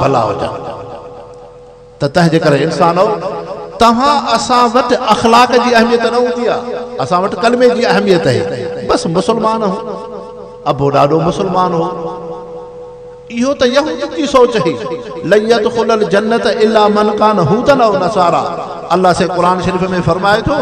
ڀلا هجن ته تنهنجي ڪري انسانؤ! توهان اسان وٽ اخلاق جي اهميت نه هوندي آ، اسان وٽ ڪلمي جي اهميت هي، بس مسلمان هو، ابو ڏاڏو مسلمان هو، اهو ته يهودين جي سوچ هي، لن يدخل الجنة الا من ڪان هودا او نصارا، الله سائين قرآن شريف ۾ فرمائي ٿو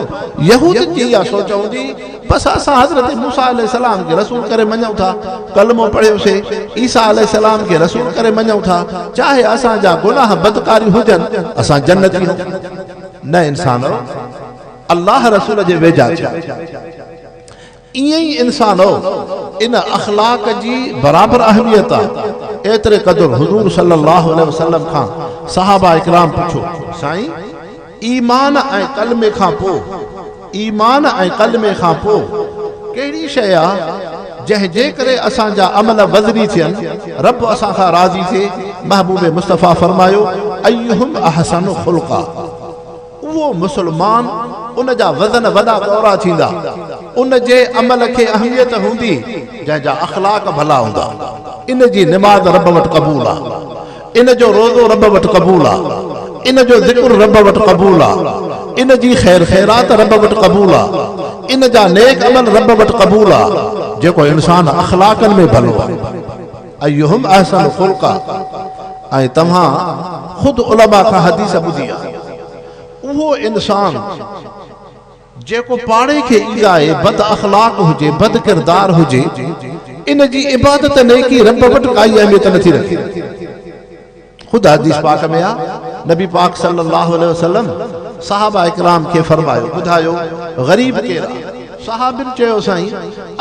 يهودين جي اها سوچ هوندي، پس اسان حضرت موسيٰ عليه السلام کي رسول ڪري مڃون ٿا، ڪلمو پڙهيو سي، عيسيٰ عليه السلام کي رسول ڪري مڃون ٿا، چاهي اسان جا گناهه بدڪاريون هجن، اسان جنتي آهيون. نه انسانؤ! الله رسول جي ويجها ٿيو. ائين ئي انسانؤ! ان اخلاق جي برابر اهميت آ. ايتري قدر حضور صلّي اللّٰه عليه وسلّم کان صحابه اڪرام پڇيو، سائين! ايمان ۽ ڪلمي کان پوء، ايمان ۽ ڪلمي کان پوء ڪهڙي شيء آ جنهن جي ڪري اسان جا عمل وزني ٿين، رب اسان کان راضي ٿئي، محبوب مصطفيٰ فرمايو، ايهم احسن خلقا اهو مسلمان ان جا وزن وڏا ڳورا ٿيندا، ان جي عمل کي اهميت هوندي جنهن جا اخلاق ڀلا هوندا، ان جي نماز رب وٽ قبول آ. ان جو روزو رب وٽ قبول آ. ان جو ذڪر رب وٽ قبول آ. ان جي خير خيرات رب وٽ قبول آ. ان جا نيڪ عمل رب وٽ قبول آ. جيڪو انسان اخلاقن ۾ ڀلو آ. ايهم احسن خلقا ۽ توهان خود علماء کان حديث ٻڌي آ. اهو انسان. جيڪو پاڻي کي ايذائي بد اخلاق هجي، بد ڪردار هجي، ان جي عبادت نيڪي رب وٽ ڪائي اهميت نٿي رکي. خود حديث پاڪ ۾ آ، نبي پاڪ صلّي اللّٰه عليه وسلّم صحابه ڪرام کي فرمايو، ٻڌايو، غريب ڪير آ؟ صحابين چيو، سائين!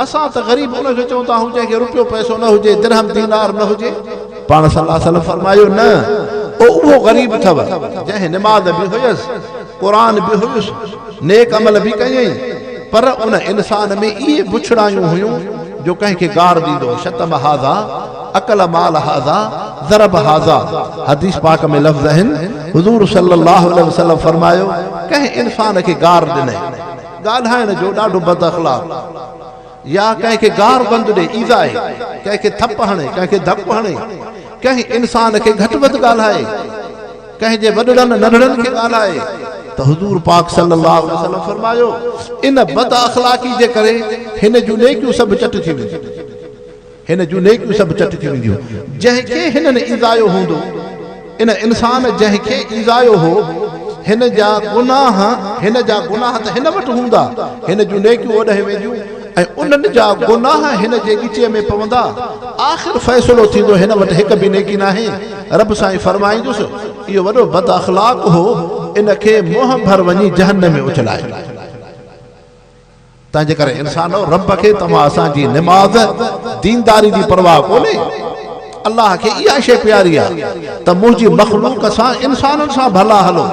اسان ته غريب ان کي چون ٿا هو جنهن کي روپيو پئسو نه هجي، درهم دينار نه هجي. پاڻ صلّي اللّٰه عليه وسلّم فرمايو، نه، او اهو غريب اٿو، جنهن نماز به هيس. قرآن به هيس، نيڪ عمل به ڪيائين، پر ان انسان ۾ اهي بڇڙايون هيون جو ڪنهن کي گار ڏيندو هو، شتم هذا، اڪل مال هذا، ضرب هذا. حديث پاڪ ۾ لفظ آهن، حضور صلّي اللّٰه عليه وسلّم فرمايو، ڪنهن انسان کي گار ڏني، ڳالهائڻ جو، ڏاڍو بد اخلاق. يا ڪنهن کي گار بند ڏئي، ايذائي، ڪنهن کي ٿپ هڻي، ڪنهن کي ڌپ هڻي، ڪنهن انسان کي گهٽ وڌ ڳالهائي، ڪنهن جي وڏڙن ننڍڙن کي ڳالهائي ته حضور پاڪ صلّي اللّٰه عليه وسلّم فرمايو، ان بد اخلاقي جي ڪري هن جون نيڪيون سڀ چٽ ٿي وينديون. هن جون نيڪيون سڀ چٽ ٿي وينديون. جنهن کي هنن ايذايو هوندو، ان انسان جنهن کي ايذايو هو، هن جا گناهه، هن جا گناهه ته هن وٽ هوندا، هن جون نيڪيون اوڏانهن وينديون ۽ انهن جا گناهه هن جي ڳچيء ۾ پوندا. آخر فيصلو ٿيندو، هن وٽ هڪ به نيڪي ناهي. رب سائين فرمائيندس، اهو وڏو بد اخلاق هو، ان کي منهن ڀر وڃي جهنم ۾ اڇلائي. تنهنجي ڪري انسانؤ! رب کي توهان اسان جي نماز، دينداري، جي پرواهه ڪونهي. الله کي اها شيء پياري آهي ته منهنجي مخلوق سان، انسانن سان، ڀلا هلو.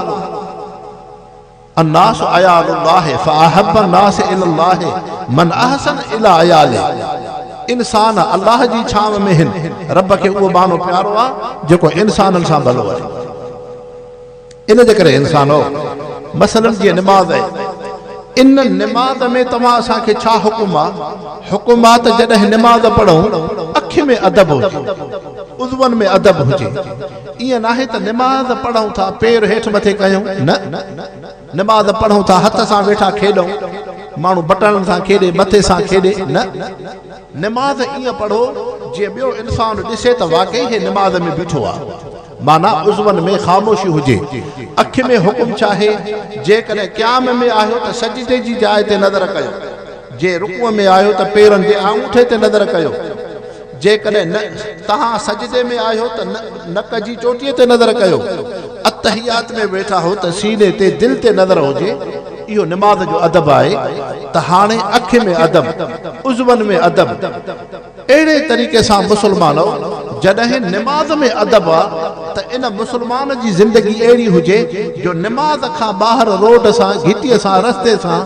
الناس عيال الله فاحب الناس الي الله من احسن الي عياله. انسان الله جي ڇانو ۾ هن. رب کي اهو ٻانهو پيارو آهي جيڪو انسانن سان ڀلو آهي. ان جي ڪري انسانؤ! مثلاً جيئن نماز آهي، ان نماز ۾ توهان اسان کي ڇا حڪم آ؟ حڪم آ ته جڏهن نماز پڙهون، اکين ۾ ادب هجي، عضون ۾ ادب هجي. ائين ناهي ته نماز پڙهون ٿا، پير هيٺ مٿي ڪيون، نه! نماز پڙهون ٿا، هٿ سان ويٺا کيڏون، ماڻهو بٽڻن سان کيڏي، مٿي سان کيڏي، نه! نماز ائين پڙهو، جيئن ٻيو انسان ڏسي ته واقعي هي نماز ۾ بيٺو آ. معنيٰ عضون ۾ خاموشي هجي. اک ۾ حڪم ڇا آهي؟ جيڪڏهن قيام ۾ آهيو ته سجدي جي جاء تي نظر ڪيو. جي رڪوع ۾ آهيو ته پيرن جي آڱوٺي تي نظر ڪيو. جيڪڏهن نه توهان سجدي ۾ آهيو ته نڪ جي چوٽيء تي نظر ڪيو. التحيات ۾ ويٺا هو ته سيني تي دل تي نظر هجي. اهو نماز جو ادب آهي ته هاڻي اک ۾ ادب، عضون ۾ ادب. اهڙي طريقي سان مسلمانؤ! جڏهن نماز ۾ ادب آ ته ان مسلمان جي زندگي اهڙي هجي جو نماز کان ٻاهر روڊ سان، گهٽيء سان، رستي سان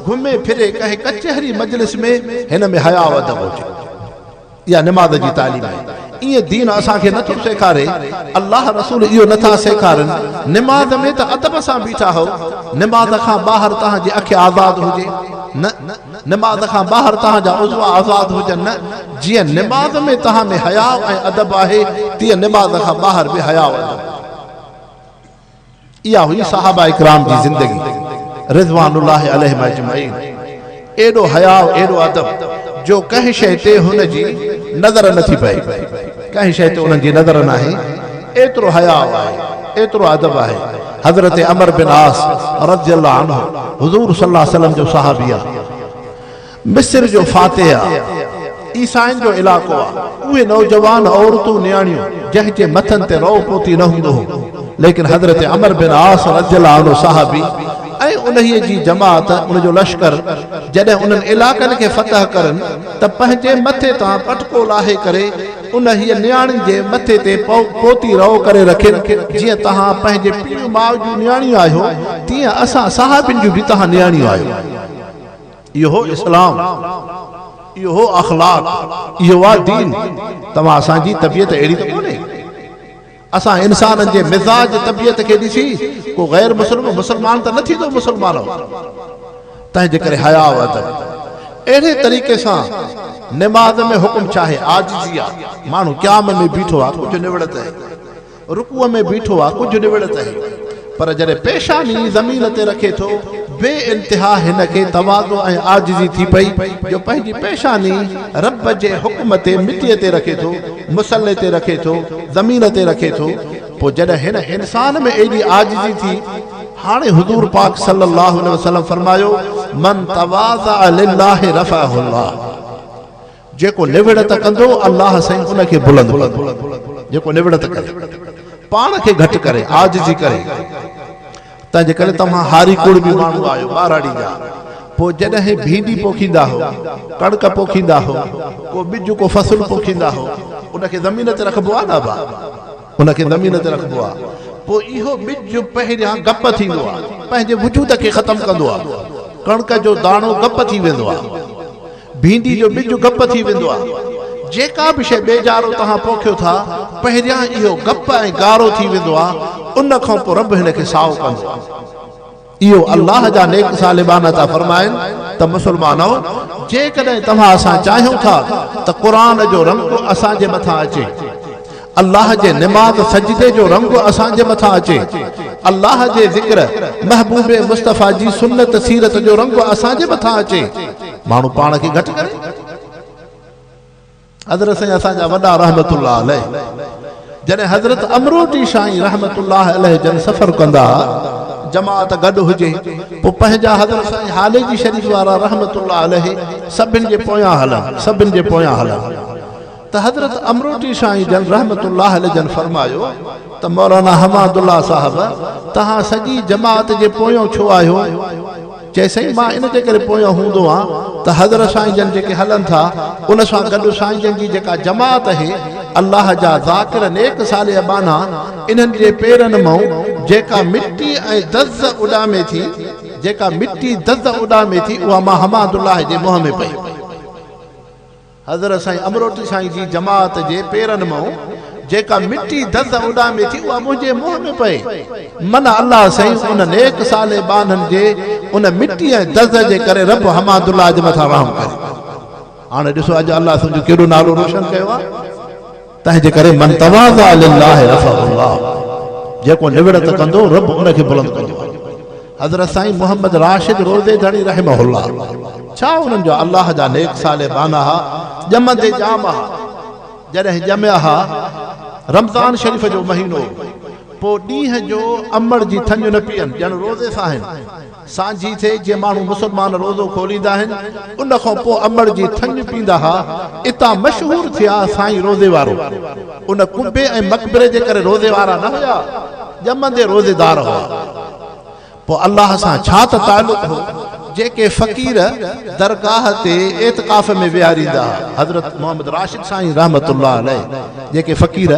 گهمي ڦري ڪنهن ڪچهري مجلس ۾ هن ۾ حياء و ادب هجي. اها نماز جي تعليم آهي. ائين دين اسان کي نٿو سيکاري. الله رسول اهو نٿا سيکارن. نماز ۾ ته ادب سان بيٺا هئو. نماز کان ٻاهر توهان جي اک آزاد هجي. نه! نماز کان ٻاهر توهان جا عضو آزاد هجن نه، جيئن نماز ۾ توهان ۾ حياء ۽ ادب آهي، تيئن نماز کان ٻاهر به حياء ادب آهي. اها هئي صحابه ڪرام جي زندگي رضوان الله عليهم اجمعين. ايڏو حياء، ايڏو ادب جو ڪنهن شيء تي هن جي نظر نه ٿي پئي. ڪنهن شيء تي انهن جي نظر ناهي. ايترو حياء آهي، ايترو ادب آهي. حضرت عمر بن عاص رضي الله عنه حضور صلي الله عليه وسلم جو صحابي آ. مصر جو فاتح آ. عيسائين جو علائقو آ. اهي نوجوان عورتون نياڻيون جنهن جي مٿن تي رئو پوتي نه هوندو هو. ليڪن حضرت عمر بن عاص رضي الله عنه صحابي ۽ انهيء جي جماعت ان جو لشڪر جڏهن انهن علائقن کي فتح ڪرن ته پنهنجي مٿي تان پٽڪو لاهي ڪري انهيء نياڻي جي مٿي تي پوتي رئو ڪري رکين، جيئن توهان پنهنجي پيڙهيون ماء جون نياڻيون آهيو، تيئن اسان صحابين جون به توهان نياڻيون آهيو. اهو اسلام، اهو اخلاق، اهوآ دين، توهان اسان جي طبيعت اهڙي ته ڪونهي. اسان انسانن جي مزاج طبيعت کي ڏسي ڪو غير مسلم مسلمان ته نه ٿيندو مسلمانو تنهنجي ڪري حياء و ادب اهڙي طريقي سان نماز ۾ حڪم ڇاهي عاجزي آ ماڻهو قيام ۾ بيٺو آ ڪجهه نوڙت هي رڪوع ۾ بيٺو آ ڪجهه نوڙت هي پر جڏهن پيشاني زمين تي رکي ٿو، بي انتها هن کي تواضع ۽ عاجزي ٿي پئي، جو پنهنجي پيشاني رب جي حڪم تي مٽيء تي رکي ٿو، مصلي تي رکي ٿو، زمين تي رکي ٿو، پوء جڏهن هن انسان ۾ ايڏي عاجزي ٿي، هاڻي حضور پاڪ صلّي اللّٰه عليه وسلّم فرمايو، من تواضع للّٰه رفعه اللّٰه. جيڪو نوڙت ڪندو الله سائين ان کي بلند ڪندو جيڪو نوڙت ڪري پاڻ کي گهٽ ڪري عاجزي ڪري تنهنجي ڪري توهان هاري ڪڙٻي ماڻهو آهيو ٻهراڙي جا پوء جڏهن ڀينڊي پوکيندا هو ڪڻڪ پوکيندا هو ڪو ٻج ڪو فصل پوکيندا هو ان کي زمين تي رکبو آهي نه ڀا ان کي زمين تي رکبو آهي پوء اهو ٻج پهريان گپ ٿيندو آهي پنهنجي وجود کي ختم ڪندو آهي ڪڻڪ جو داڻو گپ ٿي ويندو آهي ڀينڊي جو ٻج گپ ٿي ويندو آهي. جيڪا به شيء ٻيجارو توهان پوکيو ٿا، پهريان اهو گپ ۽ گارو ٿي ويندو آهي، ان کان پوء رب هن کي سائو ڪندو آهي. اهو الله جا نيڪ صالح ٻانها ٿا فرمائن ته مسلمانؤ! جيڪڏهن توهان اسان چاهيون ٿا ته قرآن جو رنگ اسان جي مٿان اچي. الله جي نماز سجدي جو رنگ اسان جي مٿان اچي الله جي ذڪر محبوب مصطفيٰ جي سنت سيرت جو رنگ اسان جي مٿان اچي ماڻهو پاڻ کي گهٽ ڪري حضرت سائين اسان جا وڏا رحمت الله عليه جڏهن حضرت امروٽي شاهي رحمت الله عليه جن سفر ڪندا جماعت گڏ هجي پوء پنهنجا حضرت سائين حالي جي شريف وارا رحمت الله عليه سڀن جي پويان هلن سڀن جي پويان هلن ته حضرت امروٽي سائين جن رحمة الله عليه جن فرمايو ته مولانا حماد الله صاحب توهان سڄي جماعت جي پويون ڇو آهيو؟ چي سائين مان ان جي ڪري پويون هوندو آن ته حضرت سائين جن جيڪي هلن ٿا ان سان گڏ سائين جن جي جيڪا جماعت اهي الله جا ذاڪر نيڪ صالح ٻانها انهن جي پيرن مئون جيڪا مٽي ۽ دز اڏامي ٿي جيڪا مٽي دز اڏامي ٿي اها مان حماد الله جي منهن ۾ پئي حضرت سائين امروٽي سائين جي جماعت جي پيرن مئون جيڪا مٽي دز اڏامي ٿي اها منهنجي منهن ۾ پئي. منه الله سائين ان نيڪ صالح ٻانهن جي ان مٽي ۽ دز جي ڪري رب حماد الله جي مٿان رحم ڪري. هاڻي ڏسو اڄ الله تنهنجو ڪيڏو نالو روشن ڪيو آهي. تنهنجي ڪري من تواضع لله رفعه الله جيڪو نوڙت ڪندو رب ان کي بلند ڪندو آهي حضرت سائين محمد راشد روضي ڌڻي رحمه الله ڇا انهن جو الله جا نيڪ صالح ٻانها ها ڄمندي ڄام ها جڏهن ڄميا ها رمضان شريف جو مهينو پوء ڏينهن جو امڙ جي ٿڃ نه پيئن ڄڻ روضي ساهن سانجهي ٿئي جي ماڻهو مسلمان روزو کوليندا آهن ان کان پوء امڙ جي ٿڃ پيندا ها اتان مشهور ٿيا سائين روزي وارو ان قبي ۽ مقبري جي ڪري روزي وارا نه هيا ڄمندي روزيدار هئا پوء الله سان ڇا ته تعلق هو جيڪي فقير درگاهه تي اعتڪاف ۾ ويهاريندا ها حضرت محمد راشد سائين رحمت الله عليه جيڪي فقير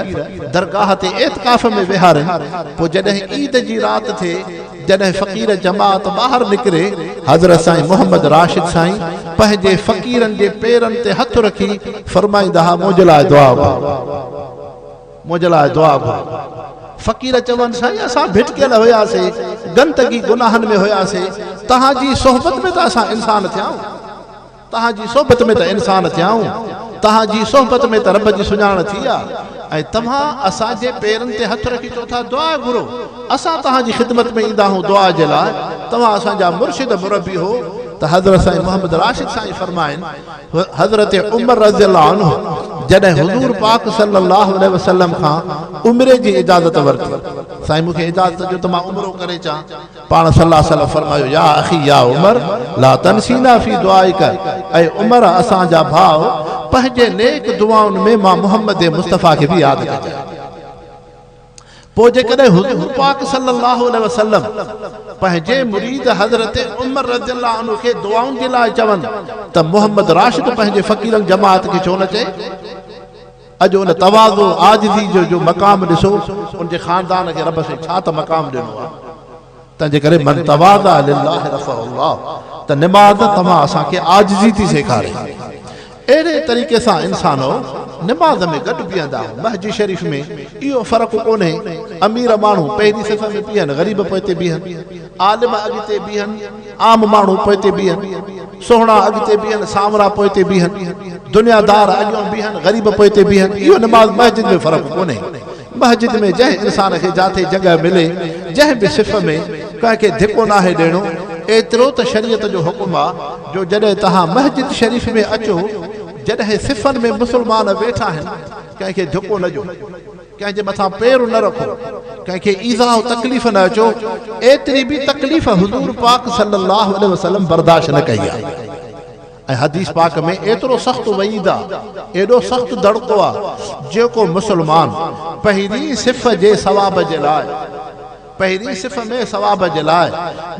درگاهه تي اعتڪاف ۾ ويهارين پوء جڏهن عيد جي رات ٿئي جڏهن فقير جماعت ٻاهر نڪري، حضرت سائين محمد راشد سائين پنهنجي فقيرن جي پيرن تي هٿ رکي فرمائيندا ها منهنجي لاء دعا گهر، منهنجي لاء دعا گهر. فقير چون سائين اسان ڀٽڪيل هياسين، گندگي گناهن ۾ هياسين، توهان جي صحبت ۾ ته اسان انسان ٿيا آهيون. توهان جي صحبت ۾ ته انسان ٿيا آهون، توهان جي صحبت ۾ ته رب جي سڃاڻ ٿي آ ۽ توهان اسان جي پيرن تي هٿ رکي چئو ٿا دعا گهرو، اسان توهان جي خدمت ۾ ايندا آهون دعا جي لاء، توهان اسان جا مرشد مربي هو ته حضرت سائين محمد راشد سائين فرمائن حضرت عمر رضي الله عنه جڏهن حضور پاڪ صلي الله عليه وسلم کان عمري جي اجازت ورتي سائين مون کي اجازت ڏيو ته مان عمرو ڪري اچان، پاڻ صلي الله عليه وسلم فرمايو يا اخي يا عمر لا تنسينا في دعائك اي عمر اسان جا ڀاء پنهنجي نيڪ دعائن ۾ مان محمد مصطفيٰ کي به ياد ڪجانء پوء جيڪڏهن حضور پاڪ صلي الله عليه وسلم پنهنجي مريد حضرت عمر رضي الله عنه کي دعائن جي لاء چون ته محمد راشد پنهنجي فقيرن جماعت کي ڇو نه چئي اڄ ان تواضع، عاجزي جو جو مقام ڏسو، ان جي خاندان کي رب سائين ڇا ته مقام ڏنو آهي. تنهن جي ڪري من تواضع لله رفعه الله ته نماز توهان اسان کي عاجزي ٿي سيکاري. اهڙي طريقي سان انسانؤ نماز ۾ گڏ بيهندا آهيون. مهجي شريف ۾ اهو فرق ڪونهي امير ماڻهو پهرين صف ۾ بيهن غريب پوئتي بيهن. عالم اڳتي بيهن، عام ماڻهو پوئتي بيهن، سهڻا اڳتي بيهن، سانورا پوئتي بيهن، دنيا دار اڳيون بيهن، غريب پوئتي بيهن، اهو نماز مسجد ۾ فرق ڪونهي. مسجد ۾ جنهن انسان کي جاتي جڳهه ملي، جنهن به صف ۾، ڪنهن کي ڌڪو ناهي ڏيڻو، ايترو ته شريعت جو حڪم آ جو جڏهن توهان مسجد شريف ۾ اچو، جڏهن صفن ۾ مسلمان ويٺا آهن، ڪنهن کي ڌڪو نه ڏيو. ڪنهن جي مٿان پير نه رکو، ڪنهن کي ايذاء و تڪليف نه اچو، ايتري به تڪليف حضور پاڪ صلّي اللّٰه عليه وسلّم برداشت نه ڪئي آ ۽ حديث پاڪ ۾ ايترو سخت وعيد آ، ايڏو سخت دڙڪو آ، جيڪو مسلمان پهرين صف جي ثواب جي لاء. پهرين صف ۾ ثواب جي لاء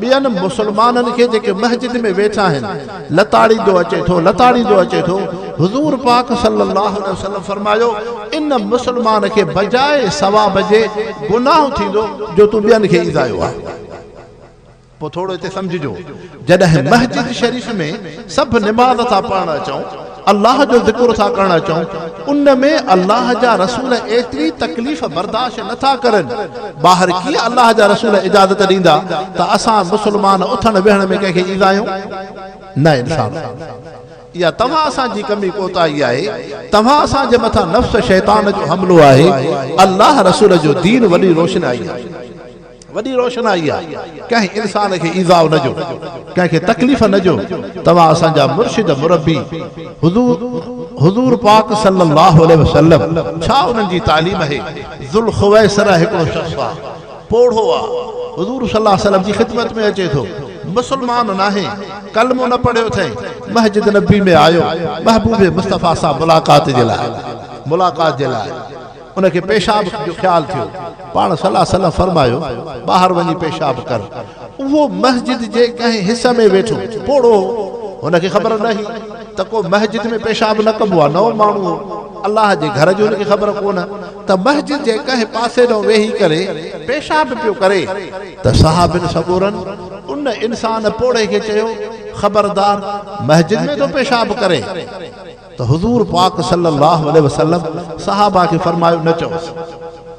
ٻين مسلمانن کي جيڪي مسجد ۾ ويٺا آهن لتاڙيندو اچي ٿو لتاڙيندو اچي ٿو حضور پاڪ صلي الله عليه وسلم فرمايو ان مسلمان کي بجاء ثواب جي گناهه ٿيندو جو تون ٻين کي ايذايو آهي. پوء ٿورو هتي سمجهجو، جڏهن مسجد شريف ۾ سڀ نماز ٿا پڙهڻ اچون، الله جو ذڪر ٿا ڪرڻ اچون، ان ۾ الله جا رسول ايتري تڪليف برداشت نه ٿا ڪرن، ٻاهر ڪيئن الله جا رسول اجازت ڏيندا ته اسان مسلمان اٿڻ ويهڻ ۾ ڪنهن کي ايذايون؟ نه انصاف ڪيو. اها توهان اسان جي ڪمي ڪوتاهي آهي، توهان اسان جي مٿان نفس شيطان جو حملو آهي، الله رسول جو دين وڏي روشنائي آهي. وڏي روشنائي آ ڪنهن انسان کي ايذاء نه ڏيو ڪنهن کي تڪليف نه ڏيو توهان اسان جا مرشد مربي حضور حضور پاڪ صلي الله عليه وسلم ڇا انهن جي تعليم اهي ذوالخويصره هڪڙو شخص آ پوڙهو آ حضور صلي الله عليه وسلم جي خدمت ۾ اچي ٿو مسلمان ناهي ڪلمو نه پڙهيو ٿئي مسجد نبوي ۾ آيو محبوب مصطفي سان ملاقات جي لاء ملاقات جي لاء ان کي پيشاب جو خيال ٿيو، پاڻ صلّي الله عليه وسلّم فرمايو، ٻاهر وڃي پيشاب ڪر. اهو مسجد جي ڪنهن حصي ۾ ويٺو، پوڙهو هو، هن کي خبر نه هئي ته ڪو مسجد ۾ پيشاب نه ڪبو آهي، نئون ماڻهو هو، الله جي گهر جي هن کي خبر ڪونه ته مسجد جي ڪنهن پاسي ڏانهن ويهي ڪري پيشاب پيو ڪري ته صحابين سڳورن ان انسان پوڙهي کي چيو، خبردار! مسجد ۾ ٿو پيشاب ڪرين. ته حضور پاڪ صلّي اللّٰه عليه وسلّم صحابه کي فرمايو، نه چئوس،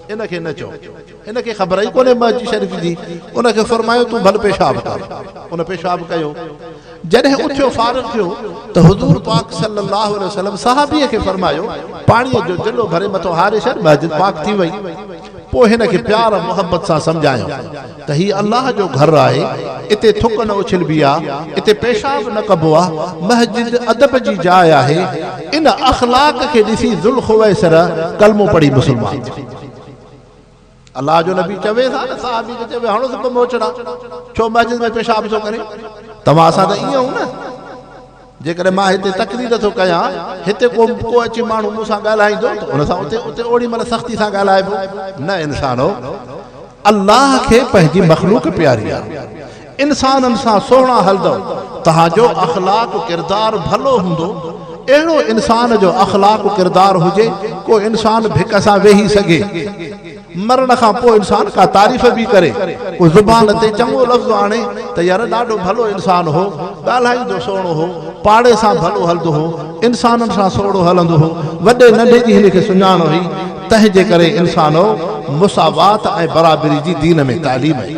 ان کي نه چئو، هن کي خبر ئي ڪونهي مهجي شريف جي، ان کي فرمايو تون ڀل پيشاب ڪر، ان پيشاب ڪيو، جڏهن اٿيو فارغ ٿيو ته حضور پاڪ صلّي اللّٰه عليه وسلّم صحابي کي فرمايو، پاڻيء جو جلو ڀري مٿو هاري ڇڏ، مسجد پاڪ ٿي وئي، پوء هن کي پيار ۽ محبت سان سمجهايائون. ته هي الله جو گهر آهي، اتي ٿڪ نه اڇلبي آ، اتي پيشاب نه ڪبو آ، مسجد ادب جي جاء آهي، ان اخلاق کي ڏسي ذوالخويصره ڪلمو پڙهي مسلمان ٿيو. الله جو نبي چويس ها نه صحابي کي چوي هڻوس ٻه موچڙا، ڇو مسجد ۾ پيشاب ٿو ڪري، توهان سان ته ائين هو نه. جيڪڏهن مان هتي تقرير ٿو ڪيان، هتي ڪو ڪو اچي ماڻهو مون سان ڳالهائيندو ته ان سان اتي اتي اوڙي مهل سختي سان ڳالهائبو. نه انسانو! الله کي پنهنجي مخلوق پياري آهي. انسانن سان سهڻا هلندؤ، توهان جو اخلاق و ڪردار ڀلو هوندو. اهڙو انسان جو اخلاق و ڪردار هجي، ڪو انسان ڀڪ سان ويهي سگهي. مرڻ کان پوء انسان ڪا تعريف به ڪري، ڪو زبان تي چڱو لفظ آڻي ته يار ڏاڍو ڀلو انسان هو، ڳالهائيندو سهڻو هو، پاڙي سان ڀلو هلندو هو، انسانن سان سوڙهو هلندو هو، وڏي ننڍي جي هن کي سڃاڻ هئي، تنهنجي ڪري انسانو مساوات ۽ برابري جي دين ۾ تعليم هئي.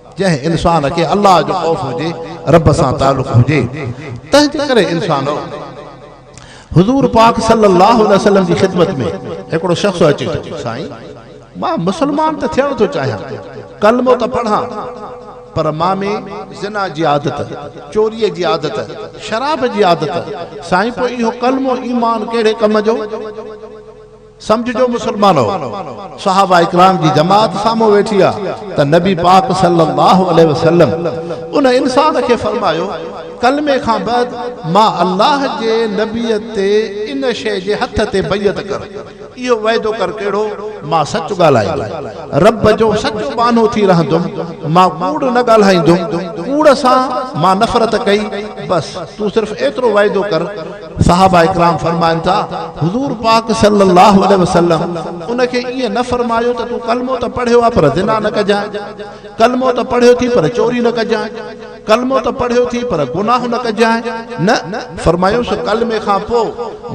جنهن انسان کي الله جو خوف هجي، رب سان تعلق هجي، تنهنجي ڪري انسانؤ! حضور پاڪ صلّي اللّٰه عليه وسلّم جي خدمت ۾ هڪڙو شخص اچي ٿو، سائين! مان مسلمان ته ٿيڻ ٿو چاهيان، ڪلمو ته پڙهان، پر مان ۾ زنا جي عادت، چوريء جي عادت، شراب جي عادت، سائين پوء اهو ڪلمو، ايمان، ڪهڙي ڪم جو؟ سمجهجو مسلمانو! صحابه ڪرام جي جماعت سامهون ويٺي آ ته نبي پاڪ صلي الله عليه وسلم ان انسان کي فرمايو، ڪلمي کان بعد مان الله جي نبي تي ان شيء جي هٿ تي بيعت ڪر، اهو وعدو ڪر ڪهڙو، مان سچ ڳالهائيندم، رب جو سچو ٻانهو ٿي رهندم، مان ڪوڙ نه ڳالهائيندم، ڪوڙ سان مان نفرت ڪئي، بس تون صرف ايترو وعدو ڪر، صحابه ڪرام فرمائن ٿا، حضور پاڪ صلّي اللّٰه عليه وسلّم ان کي ائين نه فرمايو ته تون ڪلمو ته پڙهيو آهي پر زنا نه ڪجانء، ڪلمو ته پڙهيو ٿي پر چوري نه ڪجانء، ڪلمو ته پڙهيو ٿي پر گناهه نه ڪجانء، نه، فرمايوس ڪلمي کان پوء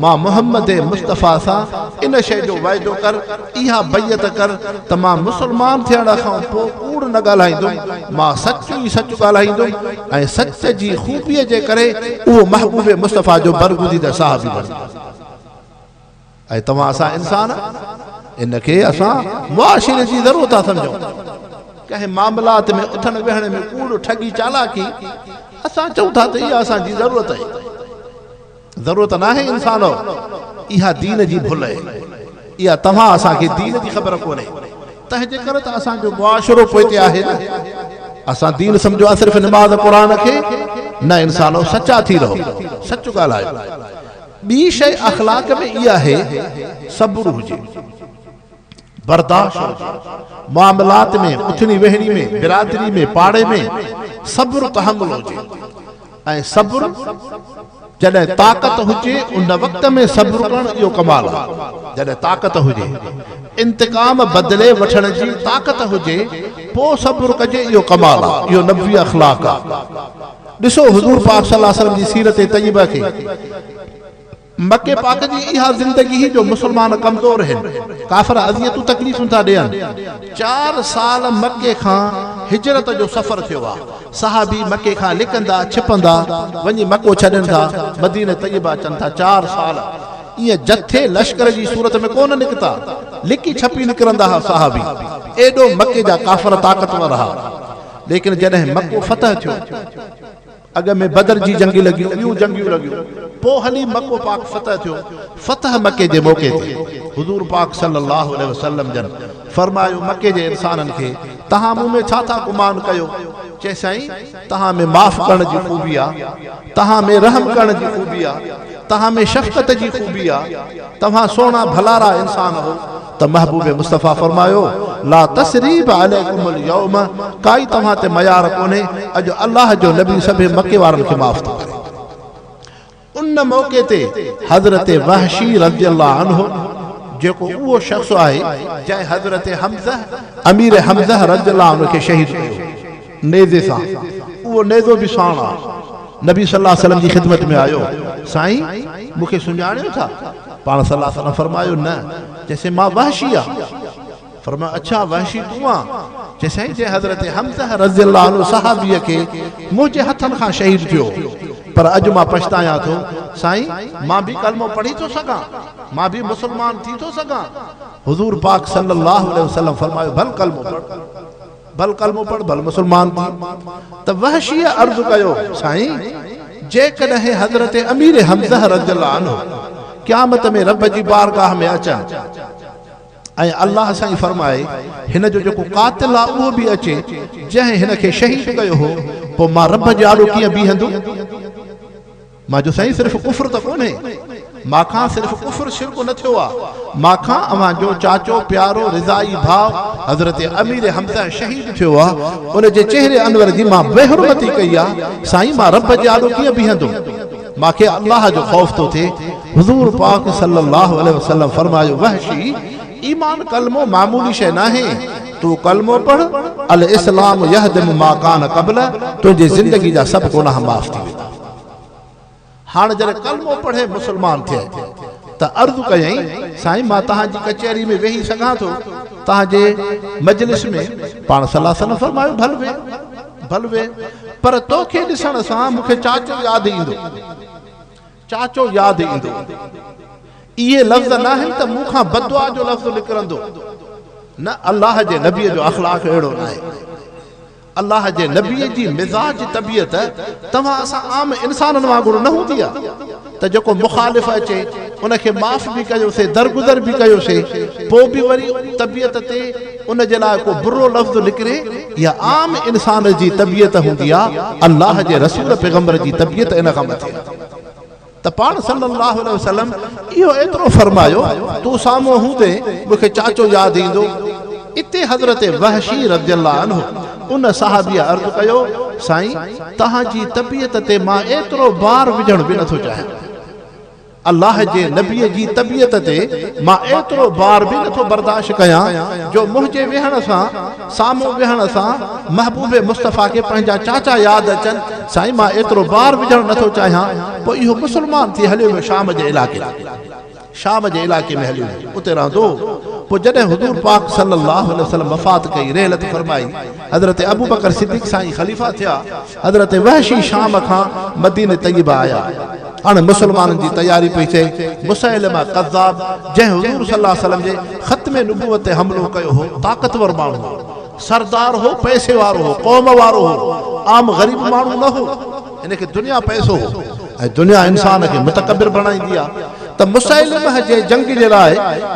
مان محمّد مصطفٰي سان ان شيء جو وعدو ڪر، اها بيعت ڪر ته مان مسلمان ٿيڻ کان پوء ڪوڙ نه ڳالهائيندم، مان سچ ئي سچ ڳالهائيندم. ۽ سچ جي خوبيء جي ڪري اهو محبوب مصطفيٰ جو برگزيده صحابي بڻجي ويو. اي توهان اسان انسان! ان کي اسان معاشري جي ذرو ٿا سمجهون. ڪنهن معاملات ۾ اٿڻ ويهڻ ۾ ڪوڙ، ٺڳي، چالاڪي، اسان چئون ٿا ته اها اسان جي ضرورت آهي. ضرورت ناهي انسانؤ اها دين جي ڀل اهي اها توهان اسان کي دين جي خبر ڪونهي تنهنجي ڪري ته اسان جو معاشرو پوئتي آهي نه اسان دين سمجهيو آهي صرف نماز قرآن کي نه انسانؤ سچا ٿي رهو سچ ڳالهايو ٻي شئي اخلاق ۾ اها اهي صبر هجي. برداشت هجي. معاملات ۾ اٿڻي ويهڻي ۾ برادري ۾ پاڙي ۾ صبر تحمل هجي ۽ صبر جڏهن طاقت هجي ان وقت ۾ صبر ڪرڻ اهو ڪمال آهي جڏهن طاقت هجي انتقام بدلي وٺڻ جي طاقت هجي پو صبر ڪجي اهو ڪمال آهي اهو نبوي اخلاق آهي ڏسو حضور پاڪ صلي الله عليه وسلم جي سيرت طيبه کي مڪي پاڪ جي اها زندگي هئي جو مسلمان ڪمزور هن، ڪافر اذيتون تڪليفون ٿا ڏين. چار سال مڪي کان هجرت جو سفر ٿيو آ، صحابي مڪي کان لڪندا ڇپندا وڃي مڪو ڇڏين ٿا، مدينه طيبه اچن ٿا، چار سال ائين جٿي لشڪر جي صورت ۾ ڪونه نڪتا، لڪي ڇپي نڪرندا ها صحابي، ايڏو مڪي جا ڪافر طاقتور ها، ليڪن جڏهن مڪو فتح ٿيو. اڳ ۾ بدر جي جنگي لڳيون، ٻيون جنگيون لڳيون، پوء هلي مڪو پاڪ فتح ٿيو، فتح مڪي جي موقعي تي حضور پاڪ صلّي اللّٰه عليه وسلّم جن فرمايو، مڪي جي انسانن کي توهان مون ۾ ڇا ٿا گمان ڪيو؟ چيس سائين! توهان ۾ معاف ڪرڻ جي خوبي آ، توهان ۾ رحم ڪرڻ جي خوبي آ، توهان ۾ شفقت جي خوبي آ، توهان سهڻا ڀلارا انسان هو. ته محبوب مصطفيٰ فرمايو، لا تثريب عليڪم اليوم ڪائي توهان تي ميار ڪونهي، اڄ الله جو نبي سڀيئي مڪي وارن کي معاف ٿو ڪري. ان موقعي تي حضرت وحشي رضي الله عنه جيڪو اهو شخص آهي جنهن حضرت حمزه امير حمزه رضي الله عنه کي شهيد ڪيو هو، نيزي سان، اهو نيزو به ساڻ آهي، نبي صلي الله عليه وسلم جي خدمت ۾ آيو، سائين! مون کي سڃاڻيو ٿا؟ پاڻ صلّي الله عليه وسلّم فرمايو، نه، چيسين مان وحشي آ، فرمايو، اڇا وحشي تون آ، چيسائين جنهن حضرت حمزه رضي الله عنه صحابي کي منهنجي هٿن کان شهيد ٿيو، پر اڄ مان پڇتايان ٿو، سائين مان به ڪلمو پڙهي ٿو سگهان، مان به مسلمان ٿي ٿو سگهان، حضور پاڪ صلّي الله عليه وسلّم فرمايو، ڀل ڪلمو پڙهه. ڀل ڪلمو پڙهه ڀل مسلمان ٿي. ته وحشيء عرض ڪيو، سائين! جيڪڏهن حضرت امير حمزه رضي الله عنه قيامت ۾ رب جي بارگاهه ۾ اچن ۽ الله سائين فرمائي، هن جو جيڪو قاتل آ اهو به اچي، جنهن هن کي شهيد ڪيو هو، پوء مان رب جي آڏو ڪيئن بيهندم؟ مان چيو سائين صرف ڪفر ته ڪونهي مان کان صرف ڪفر شرڪ نه ٿيو آ مان کان اوهان جو چاچو پيارو رضائي ڀاء حضرت امير حمزه شهيد ٿيو آ ان جي چهري انور جي مان بي حرمتي ڪئي آ سائين مان رب جي آڏو ڪيئن بيهندم مان کي الله جو خوف ٿو ٿئي حضور پاڪ صلي الله عليه وسلم فرمايو وحشي ايمان ڪلمو معمولي شيء ناهي تون ڪلمو پڙهه الاسلام يهدم ما ڪان قبله تنهنجي زندگي جا سڀ گناهه معاف ٿي ويندا هاڻ جڏهن ڪلمو پڙهي مسلمان ٿئي ته عرض ڪيائين، سائين مان توهان جي ڪچهري ۾ ويهي سگهان ٿو؟ توهان جي مجلس ۾؟ پاڻ صلّي الله عليه وسلّم فرمايو، ڀل ويهه، ڀل ويهه، پر تو کي ڏسڻ سان مون کي چاچو ياد ايندو، چاچو ياد ايندو. اهي لفظ ناهن ته مون کان بددعا جو لفظ نڪرندو. نه الله جي نبي جو اخلاق اهڙو ناهي. الله جي نبيء جي مزاج طبيعت توهان اسان عام انسانن وانگر نه هوندي آ ته جيڪو مخالف اچي ان کي معاف به ڪيو سي درگذر به ڪيو سي پو به وري طبيعت تي ان جي لاء ڪو برو لفظ نڪري اها عام انسان جي طبيعت هوندي آ الله جي رسول پيغمبر جي طبيعت ان کان مٿي آ. ته پاڻ صلّي اللّٰه عليه وسلّم اهو ايترو فرمايو، تون سامهون هوندي مون کي چاچو ياد ايندو. اتي حضرت وحشي رضي اللّٰه عنه ان صحابيء عرض ڪيو، سائين! توهان جي طبيعت تي مان ايترو بار وجهڻ به نٿو چاهيان. اللّٰه جي نبيء جي طبيعت تي مان ايترو بار به نٿو برداشت ڪيان جو منهنجي ويهڻ سان سامهون ويهڻ سان محبوب مصطفيٰ کي پنهنجا چاچا ياد اچن، سائين مان ايترو بار وجهڻ نه ٿو چاهيان، پوء اهو مسلمان ٿي هليو ويو شام جي علائقي ۾، شام جي علائقي ۾ هليو ويو، اتي رهندو هو، پوء جڏهن حضور پاڪ صلّي اللّٰه عليه وسلّم وفات ڪئي، رحلت فرمائي، حضرت ابوبڪر صديق سائين خليفه ٿيا. حضرت وحشي شام کان مدينه طيبه آيا. اڻ مسلمانن جي تياري پئي ٿئي. مسيلمه ڪذاب، جنهن حضور صلي الله عليه وسلم جي ختم نبوت تي حملو ڪيو هو، طاقتور ماڻهو هو. سردار هو، پئسي وارو هو، قوم وارو هو، عام غريب ماڻهو نه هو. هن کي دنيا پئسو هو ۽ دنيا انسان کي متڪبر بڻائيندي آ ته مسيلمه جي جنگ جي لاء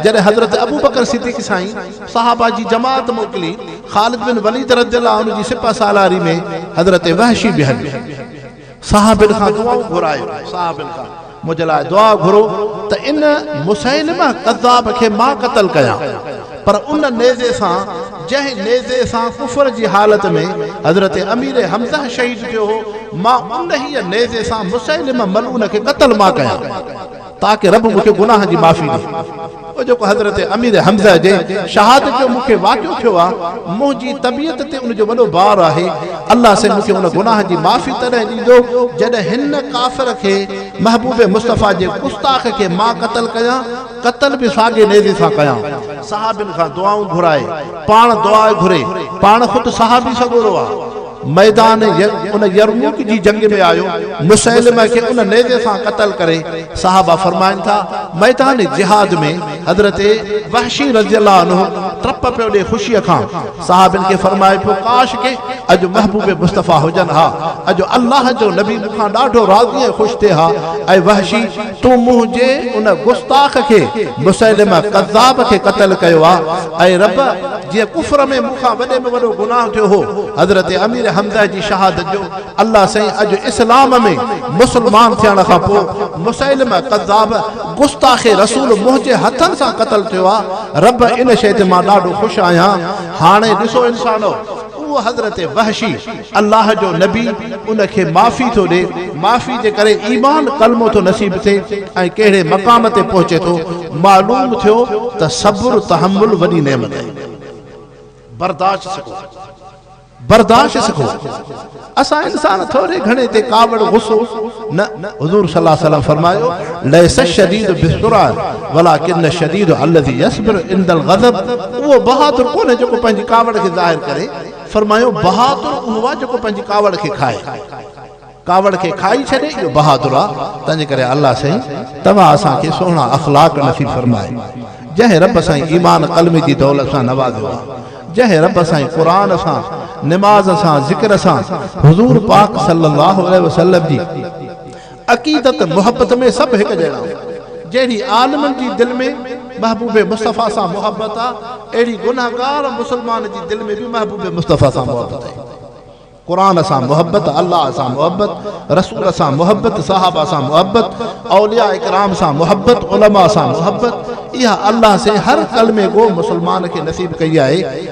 جڏهن حضرت ابوبڪر صديق سائين، صحابه جي جماعت موڪلي، خالد بن وليد رضي الله عنه جي سپهه سالاري ۾ حضرت وحشي به هليو. صحابن کان دعائون گهرايو، صحابن کان منهنجي لاء دعا گهرو ته ان مسيلمه ڪذاب کي مان قتل ڪيان، پر ان نيزي سان جنهن نيزي سان ڪفر جي حالت ۾ حضرت امير حمزه شهيد ٿيو هو، مان انهيء نيزي سان مسيلمه ملعون کي قتل مان ڪيان. تاڪه رب مون کي گناهن جي معافي ڏئي. اهو جيڪو حضرت امير حمزه جي شهادت جو مون کي واقعو ٿيو آهي، منهنجي طبيعت تي ان جو وڏو بار آهي. الله سائين مون کي ان گناهن جي معافي تڏهن ڏيندو، جڏهن هن ڪافر کي، محبوب مصطفيٰ جي گستاخ کي مان قتل ڪيان، قتل به ساڳي نيزي سان ڪيان. صحابين کان دعائون گهرائي، پاڻ دعا گهري، پاڻ خود صحابي سڳورو آهي. ميدان ان يرموڪ جي جنگ ۾ آيو مسيلمه کي ان نيزي سان قتل ڪري صحابه فرمائن ٿا ميدان جهاد ۾ حضرت وحشي رضي الله عنه ٽپ پيو ڏي خوشي کان صحابين کي فرمائي پيو ڪاش ڪي اڄ محبوب مصطفيٰ هجن ها اڄ الله جو نبي مون کان ڏاڍو راضي ۽ خوش ٿئي ها اي وحشي تو منهنجي ان گستاخ کي مسيلمه ڪذاب کي قتل ڪيو آ، اي رب! جنهن ڪفر ۾ مون کان وڏي ۾ وڏو گناهه ٿيو هو، حضرت امير حمزه جي شهادت جو، الله سائين اڄ اسلام ۾ مسلمان ٿيڻ کان پوء مسيلمه ڪذاب گستاخ رسول منهنجي هٿن سان قتل ٿيو آ، رب ان شيء تي مان ڏاڍو خوش آهيان، هاڻي ڏسو انسانو! اهو حضرت وحشي. الله جو نبي ان کي معافي ٿو ڏئي، معافي جي ڪري ايمان ڪلمو ٿو نصيب ٿئي ۽ ڪهڙي مقام تي پهچي ٿو، معلوم ٿيو ته صبر تحمل وڏي نعمت آهي. برداشت سکو، برداشت سکو، اسان انسان ٿوري گهڻي تي ڪاوڙ غصو نه، حضور صلي الله عليه وسلم فرمايو، ليس الشديد بالسرعة ولڪن الشديد الذي يصبر عند الغضب اهو بهادر ڪونهي جيڪو پنهنجي ڪاوڙ کي ظاهر ڪري، فرمايو، بهادر اهو آهي جيڪو پنهنجي ڪاوڙ کي کائي. ڪاوڙ کي کائي ڇڏي، اهو بهادر آهي. تنهن جي ڪري الله سائين توهان اسان کي سهڻا اخلاق نصيب فرمائي. جنهن رب سائين ايمان قلمي جي دولت سان نوازيو آهي. جنهن رب سائين قرآن سان، نماز سان، ذڪر سان، حضور پاڪ صلي الله عليه وسلم جي. عقيدت محبت ۾ سڀ هڪ جهڙا آهن. جهڙي عالمن جي دل ۾ محبوب مصطفيٰ سان محبت آهي، اهڙي گنهگار مسلمان جي دل ۾ به محبوب مصطفيٰ سان محبت آهي. قرآن سان محبت، الله سان محبت، رسول سان محبت، صحابه سان محبت، اولياء ڪرام سان محبت، علماء سان محبت، اها الله سين هر ڪلمي گو مسلمان کي نصيب ڪئي آهي.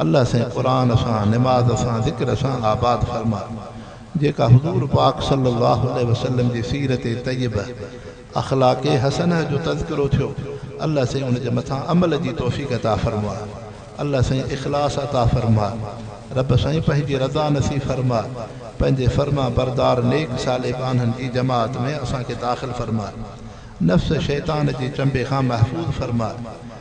الله سائين قرآن سان، نماز سان، ذڪر سان آباد فرماء جيڪا حضور پاڪ صلي الله عليه وسلم جي سيرت طيبه، اخلاق حسنه جو تذڪرو ٿيو الله سائين ان جي مٿان عمل جي توفيق عطا فرماء الله سائين اخلاص عطا فرماء رب سائين پنهنجي رضا نصيب فرماء پنهنجي فرمان بردار نيڪ صالح ٻانهن جي جماعت ۾ اسان کي داخل فرماء نفس شيطان جي چنبي کان محفوظ فرماء